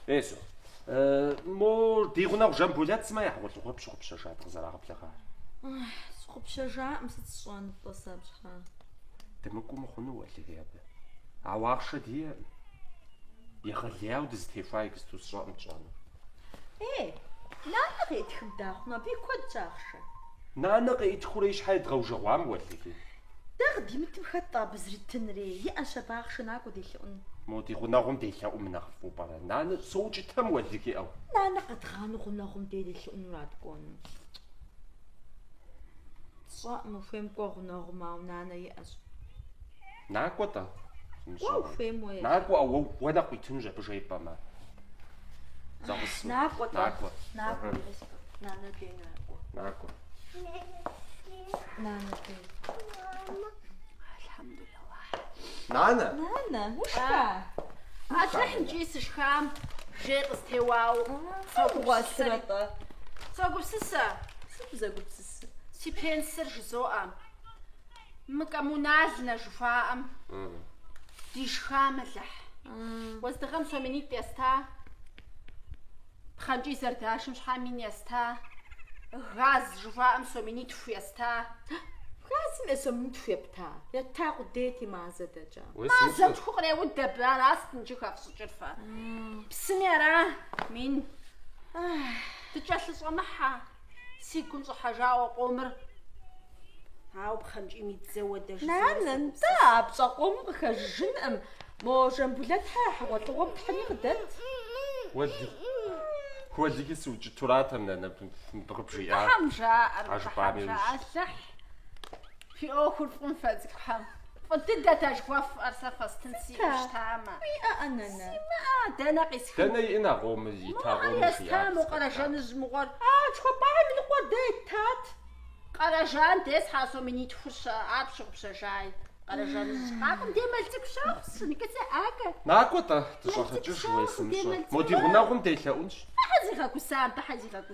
Езу. Мо ди гъунэгъу Жамбулэт сымэ я хьэгъуэлӏыгъуэр пщыгъупщэжа дыкъызэрагъэблэгъар. Сщыгъупщэжаӏым сыт сщӏэну-тӏэ сэ абы щхьэ? Дымыкӏуэу мыхъуну уэлэхьи абы. Ауэ ахъшэ диӏэкъым. Егъэлеяуэ дызытехуа иджысту сщӏэӏым тщӏэнур. Ей, нанэ къеӏытхым дахъуну, абы и куэдщ ахъшэ. Нанэ къеӏытхурэ и щхьэ едгъэужэгъуам уэлэхьи. Дэ къыдимытым хэт-тӏэ абы зритынри? Иӏэщ абы ахъшэ, накӏуэ делъэӏун. Мо ди гъунэгъум делъэӏум нэхъ фӏу пӏэрэ, нанэ, соукӏытэм уэлэхьи ӏейуэ? Нанэ къэдгъанэу гъунэгъум дей делъэӏунура дыкӏуэну? Сщӏэӏым, ухуейм кӏуэ гъунэгъум, ауэ нанэ иӏэщ. Накӏуэ-тӏэ? Кӏуэ ухуейм уэ езыр. Накӏуэ, уэ уэ нэхъ къуитынущ абы жепӏэмэ. Зэгъусэу. Накӏуэ-тӏэ? Накӏуэ. Накӏуэ, езыр. Нанэ дей накӏуэ. Накӏуэ. Нанэ! Нанэ, ушха? Адрэ хьынкӏи сышхам, жей къыстеуауэ. Согугъуасрэ-тӏэ? Согупсысэ. Сыт узэгупсысыр? Си пенсыр жызоӏэ. Мы коммунальнэ жыхуаӏэм дишхам, Алыхь. Уэздыгъэм сом минитӏ еста? Пхъэнкӏий зэрдашым щхьэ мин еста, газ жыхуаӏэм сом минитху еста. Газым е сом минитху епта, ета къудейти мазэ дэкӏа. Мазэм тху къреуд абы, аращ иджы хэфщӏыкӏыр фэ. Псыми ара, мин. Дыкӏэлъыщӏэмыхьэ. Си гум щӏыхьэжауэ къомыр. Ауэ пхъэнкӏийм и дзэуэ дэж. Нанэ, нтӏэ, а пщӏэ къомым къыхэжыжынкъым. Мо Жамбулэт-хьэ я хьэгъуэлӏыгъуэм тхьыни къыдэт. Уэлэхьи, уэлэхьи сыукӏытуратэм, нанэ, быкъыбжиӏар. Тхьэм жаӏэр, тхьэм жаӏэ, Алыхь фи ӏуэхур фӏым фэ цӏыкӏухэм. Фӏы дыдэт а жыхуэфӏэр сэ фэстын сиӏэу щытамэ. Уиӏэӏэ, нанэ? Симыӏэ, дэнэ къисхын? Дэнэ иӏэн а къомыр, ита къомыр жиӏар? Мыӏэр естам, мо Къэрэжаныжь мыгъуэр. А тхуэпӏахэм ныкъуэ дэ итат. Къэрэжан дей схьа сом минитхур-щэ, ар пщыгъупщэжай. Къэрэжаныжь къакӏуэм де мэл цӏыкӏу щохъу, сыныкӏыцӏэ ӏакэ. Накӏуэ-тӏэ, дыщӏэгъэкӏыж уэ псынщӏэ. Мо ди гъунэгъум делъэӏунщ. Тхьэ зигъэгусам, тхьэ зигъэгусам.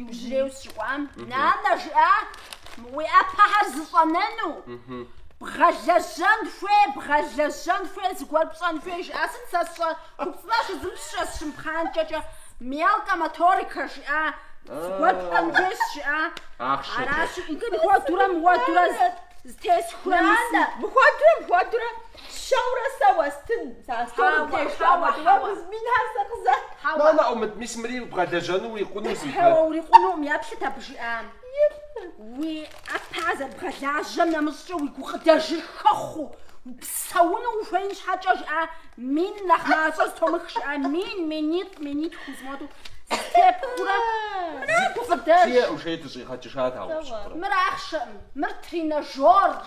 Иужьрейуэ сыщыкӏуам, нанэ, жиӏа, уи ӏэпэхэр зыщӏэнэну, бгъэлэжьэн хуей, бгъэлэжьэн хуей, зыгуэр пщӏэн хуей, жиӏа, сыт сэ сщӏэ, хупцӏынэ щызмыщӏэ, сщымыпхъанкӏэкӏэ, мелкэ моторика, жиӏа, зыгуэр пщӏэн хуей жиӏа, аращи, иджы мыхуэдурэ, мыуэдурэ зытесхурэ, мыхуэдурэ, мыхуэдурэ, Псэурэ сэ уэстын. Нанэ ӏумыт, мис мыри убгъэлэжьэну урикъуну зи пэ. Хьэуэ, урикъунукъым, еплъыт абы жиӏам. Уи ӏэпэ зэрыбгъэлажьэм нэмыщӏкӏэ уи гукъыдэжым хэхъуэу, упсэуну ухуеин щхьэкӏэ жиӏа мин нэхъ мащӏэ зытомыхыу жиӏа мин, минитӏ, минитху хуэдэу зытепхыурэ мыра гукъыдэж? Жиӏэм жиӏэри дыщӏигъэкӏыжат ауэ пщӏэрэ. Мыр ахъшэкъым, мыр тренажёрщ.